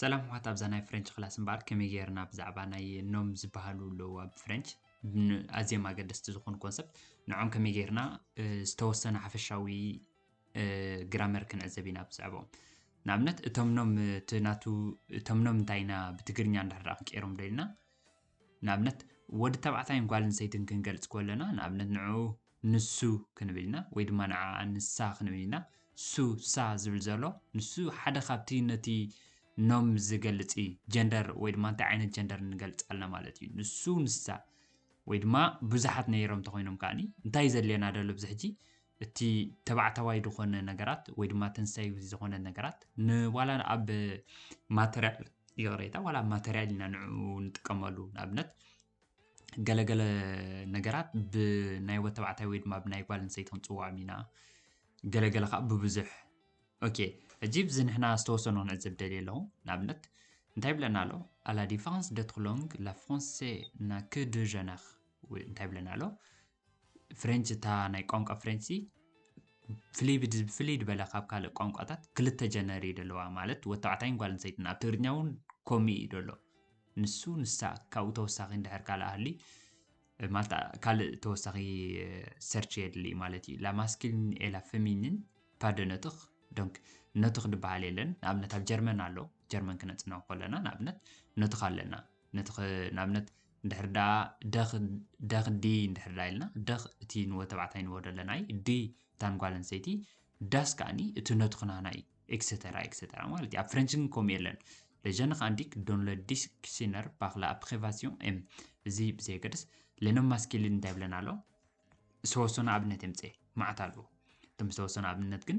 ሰላም ዋት ኣብዛ ናይ ፍረንች ክላስ እምበኣር ከመይ ጌርና ብዛዕባ ናይ ኖም ዝበሃሉ ኣለዉ ኣብ ፍረንች ኣዝዮም ኣገደስቲ ዝኾኑ ኮንሰፕት ንዖም ከመይ ጌርና ዝተወሰነ ሓፈሻዊ ግራመር ክንዕዘብ ኢና ብዛዕባኦም ንኣብነት እቶም ኖም እቲ ናቱ እቶም ኖም እንታይ ኢና ብትግርኛ እንዳሕደራ ክንቀይሮም ዶ ኢልና ንኣብነት ወዲ ተባዕታይን ጓል ኣንስተይትን ክንገልጽ ኮለና ንኣብነት ንዕኡ ንሱ ክንብል ኢና ወይ ድማ ንዓኣ ንሳ ክንብል ኢና። ሱ፣ ሳ ዝብል ዘሎ ንሱ ሓደ ካብቲ ነቲ ኖም ዝገልጽ እዩ። ጀንደር ወይ ድማ እንታይ ዓይነት ጀንደር ንገልጽ ኣለና ማለት እዩ። ንሱ፣ ንሳ ወይ ድማ ብዙሓት ነይሮም እንተኾይኖም ከኣ እንታይ እዩ ዘድልየና ዘሎ ኣብዚ ሕጂ እቲ ተባዕታዋይ ዝኾነ ነገራት ወይ ድማ ተንሳዩ ዝኾነ ነገራት ንዋላ ኣብ ማተርያል ይቕሬታ ዋላ ኣብ ማተርያል ኢና ንዕኡ ንጥቀመሉ ንኣብነት ገለገለ ነገራት ብናይ ወድ ተባዕታይ ወይ ድማ ብናይ ጓል ኣንስተይቲ ክንፅውዖም ኢና ገለገለ ከዓ ብብዙሕ ኦኬ ሕጂ ብዚ ንሕና ዝተወሰኑ ክንዕዘብ ደልየ ኣለኹ ንኣብነት እንታይ ብለና ኣሎ ኣላ ዲፋረንስ ደ ትሎንግ ላ ፍራንሴ ና ክ ደ ጀነር እንታይ ብለና ኣሎ ፍሬንች እታ ናይ ቋንቋ ፍሬንችሲ ፍሊብድ ብፍልይ ዝበለ ካብ ካልእ ቋንቋታት ክልተ ጀነር እዩ ደለዋ ማለት ወዲ ተባዕታይን ጓል ኣንስተይትን ኣብ ትግርኛ እውን ከምኡ እዩ ደሎ ንሱ ንሳ ካብኡ ተወሳኺ እንድሕር ካልእ ኣህሊ ማለት ካልእ ተወሳኺ ሰርች የድሊ እዩ ማለት እዩ ላማስኪልን ኤላ ፈሚንን ፓደነትኽ ዶንክ ነትኽ ድበሃል የለን ንኣብነት ኣብ ጀርመን ኣሎ ጀርመን ክነፅንዖ ከለና ንኣብነት ነትኽ ኣለና ነቲ ከ ንኣብነት እንድሕር ደኣ ደኽ ደኽ ዲ እንድሕር ደኣ ኢልና ደኽ እቲ ንወ ተባዕታይ ንወ ደለናይ ዲ እታን ጓል ኣንስተይቲ ዳስ ከኣኒ እቲ ነቱ ክናና እዩ ኤክሰተራ ኤክሰተራ ማለት እዩ ኣብ ፍረንች ግን ከምኡ የለን ለጀን ኻንዲክ ዶን ለ ዲስክሲነር ባክላ ፕሬቫሲዮን ኤም እዚ ብዘየገድስ ሌኖም ማስኪሊን እንታይ ብለን ኣሎ ዝተወሰኑ ኣብነት የምፅኤ ማዕት ኣለዎ እቶም ዝተወሰኑ ኣብነት ግን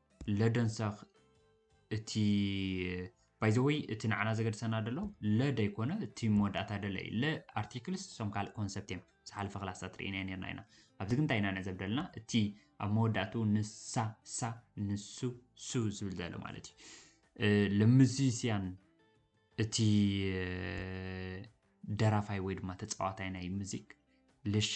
ለደንሳኽ እቲ ባይዘወይ እቲ ንዓና ዘገድሰና ደሎ ለ ደይኮነ እቲ መወዳእታ ደለ እዩ ለ ኣርቲክልስ እሶም ካልእ ኮንሰፕት እዮም ዝሓለፈ ክላስታት ርኢና ነርና ኢና ኣብዚ ግን እንታይ ኢና ንዕዘብ ደለና እቲ ኣብ መወዳእትኡ ንሳ ሳ ንሱ ሱ ዝብል ዘሎ ማለት እዩ ልምዚስያን እቲ ደራፋይ ወይ ድማ ተፃዋታይ ናይ ሙዚክ ልሻ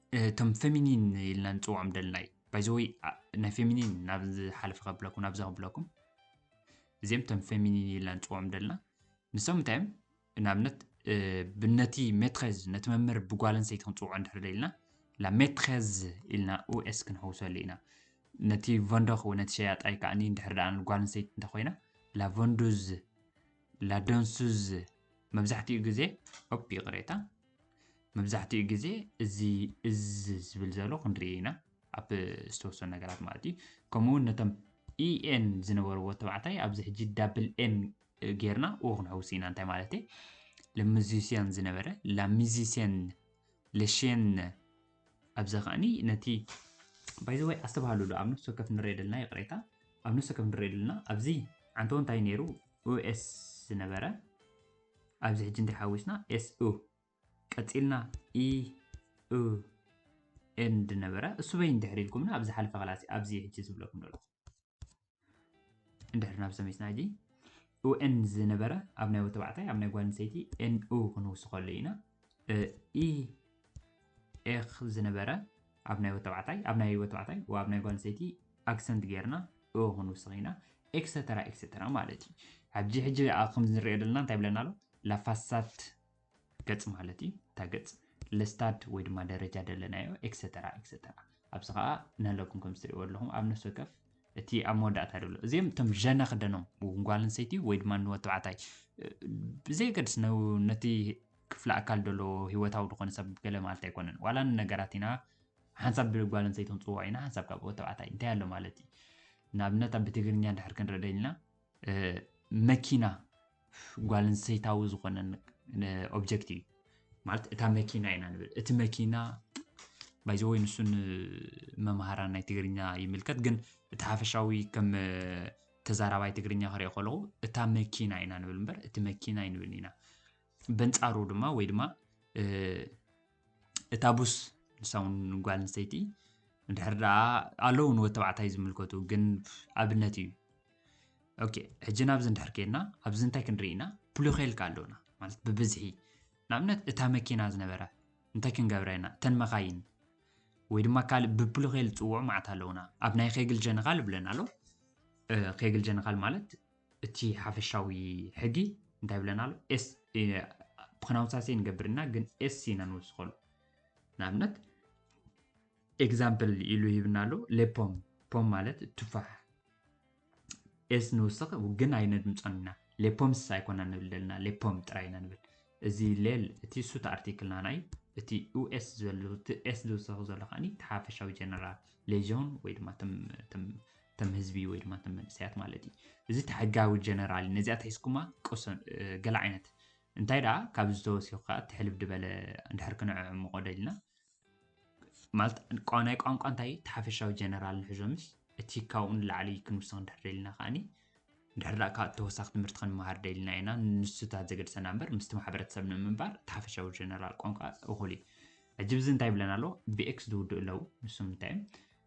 እቶም ፌሚኒን ኢልና ንፅውዖም ደልናይ ባይዘወይ ናይ ፌሚኒን ናብ ዝሓለፈ ከብለኩም ናብዚ ከብለኩም እዚኦም እቶም ፌሚኒን ኢልና ንፅውዖም ደልና ንሶም እንታይ እዮም ንኣብነት ብነቲ ሜትሬዝ ነቲ መምህር ብጓል ኣንስተይቲ ክንፅውዖ እንድሕር ደልና ላ ሜትሬዝ ኢልና ኡኤስ ክንሕውሰሉ ኢና ነቲ ቨንዶኽ ወይ ነቲ ሸያጣይ ከዓኒ እንድሕር ደኣ ጓል ኣንስተይቲ እንተኮይና ላ ቨንዱዝ ላ ደንሱዝ መብዛሕትኡ ግዜ ኦፕ ይቕሬታ መብዛሕትኡ ግዜ እዚ እዝ ዝብል ዘሎ ክንርኢ ኢና ኣብ ዝተወሰኑ ነገራት ማለት እዩ ከምኡ ውን ነቶም ኢኤን ዝነበርዎ ተባዕታይ ኣብዚ ሕጂ ዳብል ኤን ጌርና ኡ ክንሕውስ ኢና እንታይ ማለት እዩ ለሙዚስያን ዝነበረ ላሚዚስያን ለሽን ኣብዚ ከዓኒ ነቲ ባይዘወይ ኣስተባሃሉሉ ኣብ ነፍሲ ወከፍ ንሪኦ ደልና ይቕሬታ ኣብ ነፍሲ ወከፍ ንሪኦ ደልና ኣብዚ ዓንተዎ እንታይ ነይሩ ኡኤስ ዝነበረ ኣብዚ ሕጂ እንታይ ሓዊስና ኤስ ኡ ቀጺልና ኢ ኡ ኤንድ ነበረ እሱ በይን ድሕሪ ኢልኩምና ኣብ ዝሓለፈ ክላሲ ኣብዚ ሕጂ ዝብለኩም ዘሎ እንድሕር ናብ ሰሚስና ሕጂ ኡኤን ዝነበረ ኣብ ናይ ወተባዕታይ ኣብ ናይ ጓል ኣንስተይቲ ኤንኡ ክንውስኸሉ ኢና ኢ ኤኽ ዝነበረ ኣብ ናይ ወተባዕታይ ኣብ ናይ ወተባዕታይ ኣብ ናይ ጓል ኣንስተይቲ ኣክሰንት ጌርና እ ክንውስኽ ኢና ኤክሰተራ ኤክሰተራ ማለት እዩ ኣብዚ ሕጂ ኣብ ከምዚ ንሪኦ ዘለና እንታይ ብለና ኣሎ ላፋሳት ገጽ ማለት እዩ እታ ገጽ ለስታድ ወይ ድማ ደረጃ ደለናዮ ኤክሰተራ ኤክሰተራ ኣብዚ ከዓ ንህለኩም ከም ዝትሪእዎ ኣለኹም ኣብ ነፍሲ ወከፍ እቲ ኣብ መወዳእታ ደሎ እዚኦም እቶም ዠነ ክደኖም ጓል ኣንሰይቲ ወይ ድማ ንወ ተባዕታይ ብዘየገድስ ነቲ ክፍለ ኣካል ደሎ ሂወታዊ ዝኾነ ሰብ ገለ ማለት ኣይኮነን ዋላ ንነገራት ኢና ሓንሳብ ብጓል ኣንስተይቲ ክንጽውዖ ኢና፣ ሓንሳብ ካብ ወድ ተባዕታይ እንታይ ኣሎ ማለት እዩ? ንኣብነት ኣብ ብትግርኛ እንድሕር ክንርኢ ደሊና መኪና ጓል ኣንስተይታዊ ዝኾነ ኦብጀክት እዩ ማለት እታ መኪና ኢና ንብል እቲ መኪና ባይዘወይ ንሱን መምሃራ ናይ ትግርኛ ይምልከት ግን እቲ ሓፈሻዊ ከም ተዛራባይ ትግርኛ ክሪኦ ከለኹ እታ መኪና ኢና ንብል እምበር እቲ መኪና ይንብል ኢና በንፃሩ ድማ ወይ ድማ እታ ቡስ ንሳ ውን ጓል ኣንስተይቲ እንድሕር ደኣ ኣለዉ ንወድ ተባዕታይ ዝምልከቱ ግን ኣብነት እዩ ኦኬ ሕጂ ናብዚ እንድሕር ከይድና ኣብዚ እንታይ ክንርኢ ኢና ፕሉኸልካ ኣለውና ማለት ብብዝሒ ንኣብነት እታ መኪና ዝነበረ እንታይ ክንገብረ ኢና እተን መኻይን ወይ ድማ ካልእ ብፕሉኸል ዝፅውዑ መዓት ኣለውና ኣብ ናይ ኸግል ጀነኻል ብለና ኣሎ ኸግል ጀነኻል ማለት እቲ ሓፈሻዊ ሕጊ እንታይ ይብለና ኣሎ? ፕሮናውንሳሴ ንገብር እና ግን ኤስ ኢና ንውስኸሉ። ንኣብነት ኤግዛምፕል ኢሉ ሂብና ኣሎ ሌፖም ፖም ማለት ቱፋሕ ኤስ ንውስኽ ግን ኣይነድምፆን ኢና ሌፖምስ ኣይኮና ንብል ዘለና ሌፖም ጥራይ ኢና ንብል እዚ ሌል እቲ ሱት ኣርቲክልና ናይ እቲ ዩኤስ ዝበሉ እቲ ኤስ ዝውስኽ ዘሎ ከዓኒ እቲ ሓፈሻዊ ጀነራል ሌዥን ወይ ድማ ተም ህዝቢ ወይ ድማ ተም መንእሰያት ማለት እዩ እዚ ተሕጋዊ ጀነራል ነዚኣ ትሒዝኩማ ቅሶ ገለ ዓይነት እንታይ ደኣ ካብ ዝተወሲኹ ከዓ ትሕልፍ ድበለ እንድሕር ክንዕምቆ ደልና ማለት ናይ ቋንቋ እንታይ ተሓፈሻዊ ጀነራል ንሕዞምስ እቲ ካብኡ ንላዕሊ ክንውስኽ እንድሕር ደልና ከዓኒ እንድሕር ደኣ ካብ ተወሳኺ ትምህርቲ ክንመሃር ደልና ኢና ንሱታት ዘገድሰና እምበር ምስቲ ማሕበረተሰብ ንምንባር ተሓፈሻዊ ጀነራል ቋንቋ እኹል እዩ ሕጂ ብዚ እንታይ ይብለና ኣሎ ብኤክስ ዝውድኡ ኣለዉ ንሶም እንታይ እዮም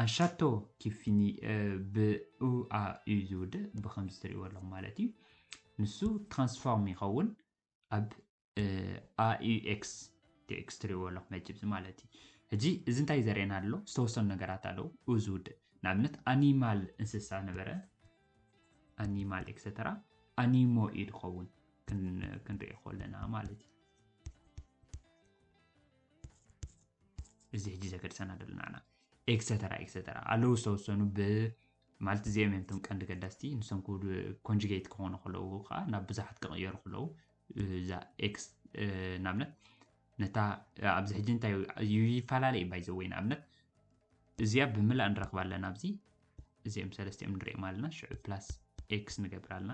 ኣንሻቶ ኪፊኒ ብ ኡኣ እዩ ዝውድእ ብከምዚ ትሪእዎ ኣለኹም ማለት እዩ ንሱ ትራንስፎርም ይኸውን ኣብ ኣዩኤክስ ቲኤክስ ትሪእዎ ኣለኹም መጅብዚ ማለት እዩ ሕጂ እዚ እንታይ ዘርእየና ኣሎ ዝተወሰኑ ነገራት ኣለዉ ኡ ዝውድእ ንኣብነት ኣኒማል እንስሳ ነበረ ኣኒማል ኤክሰተራ ኣኒሞ እዩ ዝኸውን ክንሪኦ ከለና ማለት እዩ እዚ ሕጂ ዘገድሰና ዘሎ ንዓና ኤክሰተራ ኤክሰተራ ኣለዉ ዝተወሰኑ ብ ማለት እዚኦም እዮም እቶም ቀንዲ ገዳስቲ ንሶም ኮንጅጌት ክኾኑ ከለዉ ከዓ ናብ ብዙሓት ክቕየሩ ከለዉ እዛ ኤክስ ንኣብነት ነታ ኣብዚ ሕጂ እንታይ ይፈላለ እዩ ባይ ዘወይ ንኣብነት እዚኣ ብምላእ ንረኽባ ኣለና ኣብዚ እዚኦም ሰለስቲኦም ንሪኦም ኣለና ሽዑ ፕላስ ኤክስ ንገብር ኣለና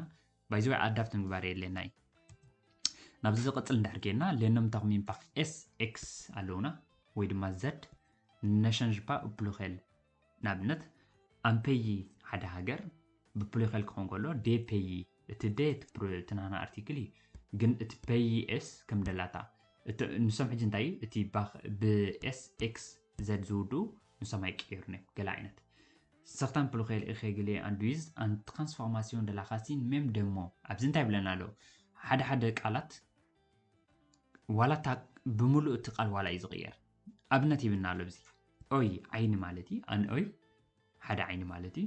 ባይ ዘ ወይ ኣዳፕት ምግባር የድልየና እዩ ናብዚ ዝቕፅል እንድሕር ከይድና ሌኖም ታኹሚን ፓክ ኤስ ኤክስ ኣለውና ወይ ድማ ዘድ ነሸንጅ ፓ ፕሉኸል ንኣብነት ኣምፔይ ሓደ ሃገር ብፕሉኸል ክኸውን ከሎ ዴፔይ እቲ ደ እቲ ናና ኣርቲክል እዩ ግን እቲ ፔይ ኤስ ከም ደላታ ንሶም ሕጂ እንታይ እዩ እቲ ብኤስ ኤክስ ዘድ ዝውድኡ ንሰማይ ቀይሩን እዮም ገለ ዓይነት Certains pluriels irréguliers induisent une transformation de la racine même de mot ኣብዚ እንታይ ብለና ኣሎ ሓደ ሓደ ቃላት ዋላ እታ ብምሉእ እቲ ቃል ዋላ እዩ ዝቕየር ኣብነት ይብና ኣሎ ብዚ ኦይ ዓይኒ ማለት እዩ ኣን ኦይ ሓደ ዓይኒ ማለት እዩ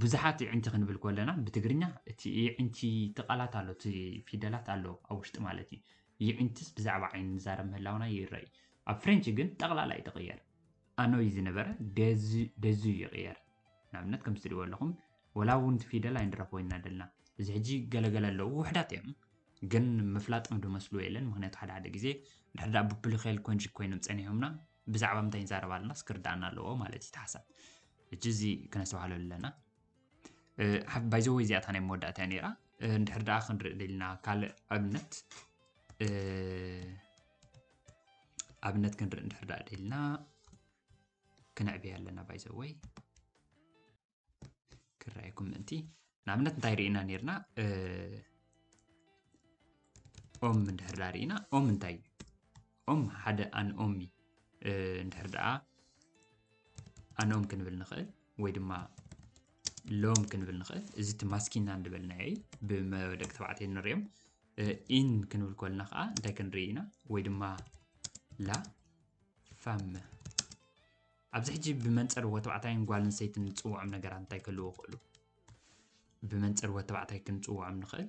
ብዙሓት ይዕንቲ ክንብል ከለና ብትግርኛ እቲ ይዕንቲ እቲ ቃላት ኣሎ እቲ ፊደላት ኣሎ ኣብ ውሽጢ ማለት እዩ ይዕንትስ ብዛዕባ ዓይኒ ንዛረብ ምህላውና ይረአ ኣብ ፍሬንች ግን ጠቕላላ እዩ ተቕየር ኣኖይ ዝነበረ ደዙ ይቕየር ንኣብነት ከምዚ ትሪእዎ ኣለኹም ወላ እውን እቲ ፊደል ኣይንረኽቦ ኢና ደልና እዚ ሕጂ ገለገለ ኣለዉ ውሕዳት እዮም ግን ምፍላጦም ዶ መስሉ የለን ምክንያቱ ሓደ ሓደ ግዜ ድሕሪ ዳኣ ብፕሊኬል ኮንጅ ኮይኖም ፀኒሖምና ብዛዕባ ምንታይ ይዛረብ ኣለና ስክርዳኣና ኣለዎ ማለት እዩ ተሓሳብ ሕጂ እዚ ክነስተባሃለሉ ኣለና ባይዘወይ እዚኣ እታ ናይ መወዳእታ እያ ነይራ እንድሕር ደኣ ክንርኢ ደልና ካልእ ኣብነት ኣብነት ክንርኢ እንድሕር ደኣ ደልና ክነዕብያ ኣለና ባይዘወይ ክረኣየኩም ምእንቲ ንኣብነት እንታይ ርኢና ነርና ኦም እንድሕር ደኣ ርኢና ኦም እንታይ እዩ ኦም ሓደ ኣንኦሚ እንድሕር ደኣ ኣንኦም ክንብል ንኽእል ወይ ድማ ሎም ክንብል ንኽእል እዚ እቲ ማስኪና እንድበልናዮ እዩ ብደቂ ተባዕትዮ ንሪኦም ኢን ክንብል ከልና ከዓ እንታይ ክንርኢ ኢና ወይ ድማ ላ ፋም ኣብዚ ሕጂ ብመንፅር ወተባዕታይን ጓል ኣንስተይቲ ንፅውዖም ነገራት እንታይ ክህልዎ ክእሉ ብመንፅር ወተባዕታይ ክንፅውዖም ንኽእል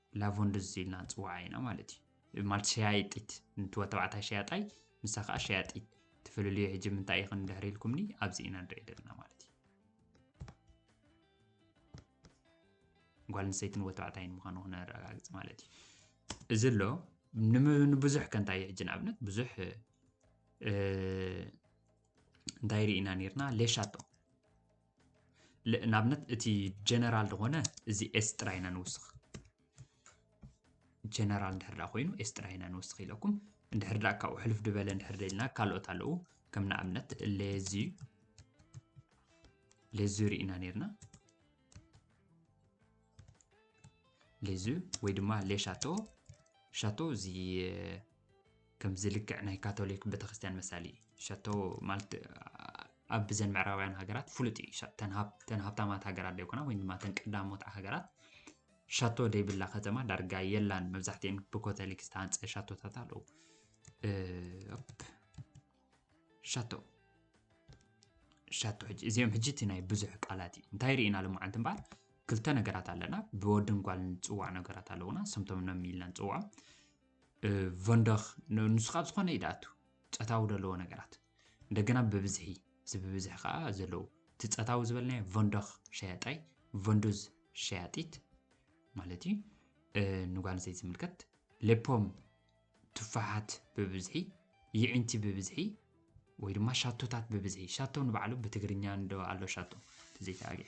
ላቮንድዝ ኢልና ንጽውዓ ኢና ማለት እዩ። ማለት ሸያይጢት ንቲ ወድ ተባዕታይ ሸያጣይ ንሳ ከኣ ሸያጢት ትፍልልዮ ሕጂ ምንታይ ኢኽን ድሕሪ ኢልኩምኒ ኣብዚ ኢና ንርኢ ዘለና ማለት እዩ። ጓል ኣንስተይትን ወድ ተባዕታይን ምዃኑ ክነረጋግጽ ማለት እዩ። እዚ ኣሎ ንብዙሕ ከ እንታይ ሕጂ ንኣብነት ብዙሕ እንታይ ርኢና ነርና ሌሻቶ ንኣብነት እቲ ጀነራል ዝኾነ እዚ ኤስ ጥራይ ኢና ንውስኽ ጀነራል እንድሕር ዳ ኮይኑ ኤስ ጥራይ ኢና ንውስኽ ኢለኩም እንድሕር ዳ ካብኡ ሕልፍ ድበለ እንድሕር ደልና ካልኦት ኣለዉ ከም ንኣብነት ሌዚ ሌዚ ርኢና ነርና ሌዚ ወይ ድማ ሌሻቶ ሻቶ እዚ ከምዚ ልክዕ ናይ ካቶሊክ ቤተክርስትያን መሳሊ ሸቶ ማለት ኣብ ዘን ምዕራባውያን ሃገራት ፍሉጥ እዩ ተን ሃብታማት ሃገራት ደይኮና ወይ ድማ ተን ቀዳሞት ሃገራት ሻቶ ደይብላ ከተማ ዳርጋ የላን መብዛሕትኤን ብኮተሊክ ዝተሃንፀ ሻቶታት ኣለዉ ሻቶ ሻቶ ሕጂ እዚኦም ሕጂ እቲ ናይ ብዙሕ ቃላት እዩ እንታይ ርኢና ልመዓልቲ እምበኣር ክልተ ነገራት ኣለና ብወድን ጓል ንፅዋዕ ነገራት ኣለውና ስምቶም ነም ኢልና ንፅዋዖም ቨንደኽ ንሱ ካብ ዝኾነ እዩ ድኣቱ ጸታዊ ዘለዎ ነገራት እንደገና ብብዝሒ እዚ ብብዝሒ ከዓ ዘለዉ እቲ ጸታዊ ዝበልናዮ ቨንደኽ ሸያጣይ ቨንዱዝ ሸያጢት ማለት እዩ ንጓል ኣንስተይቲ ዝምልከት ሌፖም ትፋሓት ብብዝሒ ይዒንቲ ብብዝሒ ወይ ድማ ሻቶታት ብብዝሒ ሻቶ ንባዕሉ ብትግርኛ እንዶ ኣሎ ሻቶ ተዘይተኣግዕ